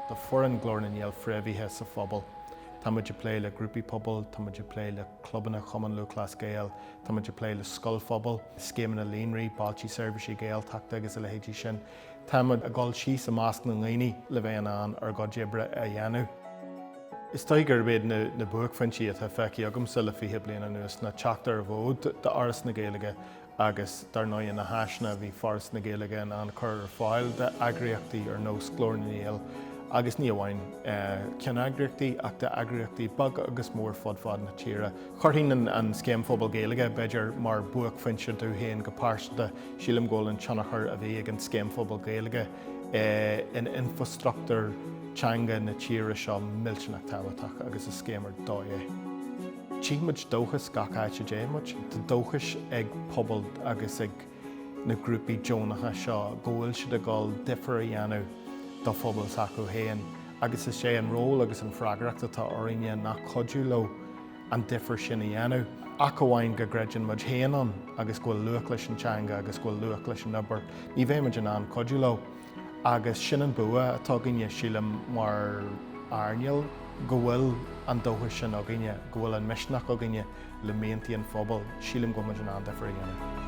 tá foireann Glór na nGael fréamhaithe sa phobal. Tá muid ag plé le grúpaí pobail, tá muid ag plé le clubanna Chumann Lúthchleas Gael, tá muid ag plé le scoilphobail, scéimeanna líonraí, bailte seirbhísí Gaeltachta agus a leithéidí sin. Tá muid ag dul síos i measc na ndaoine le bheith in ann ár gcuid oibre a dhéanamh. Is dóigh gurb iad na buaicphointí atá feicthe agamsa le fiche bliain anuas ná teacht ar an bhfód d'Fhoras na Gaeilge agus, dar ndóigh, na háiseanna a bhí Foras na Gaeilge in ann a chur ar fáil d'eagraíochtaí ar nós Ghlór na nGael agus ní amháin ceanneagraíochtaí ach d'eagraíochtaí beag agus mór fud fad na tíre. Chuirfinn an Scéim Phobal Gaeilge, b'fhéidir, mar bhuaicphointe domh féin go pearsanta. Sílim go bhfuil an tionchar a bhí ag an Scéim Phobal Gaeilge in infrastruchtúr teanga na tíre seo millteanach tábhachtach agus is scéim ar dóigh í. Tchífidh muid dóchas gach áit a dtéann muid. Tá dóchas ag pobail agus ag. na grúpaí deonacha seo go bhfuil siad ag dul difear a dhéanamh do phobal s'acu féin agus is é an ról agus an freagracht atá orainne ná cuidiú leo an difear sin a dhéanamh ach amháin go gcreideann muid féin ann agus go bhfuil luach leis an teanga agus go bhfuil luach leis an obair, ní bheidh muid in ann cuidiú leo. agus sin an bua atá againne, sílim, mar earnáil, go bhfuil an dóchas sin againne, go bhfuil an misneach againne le mianta an phobail, sílim go bhfuil muid in ann difear a dhéanamh.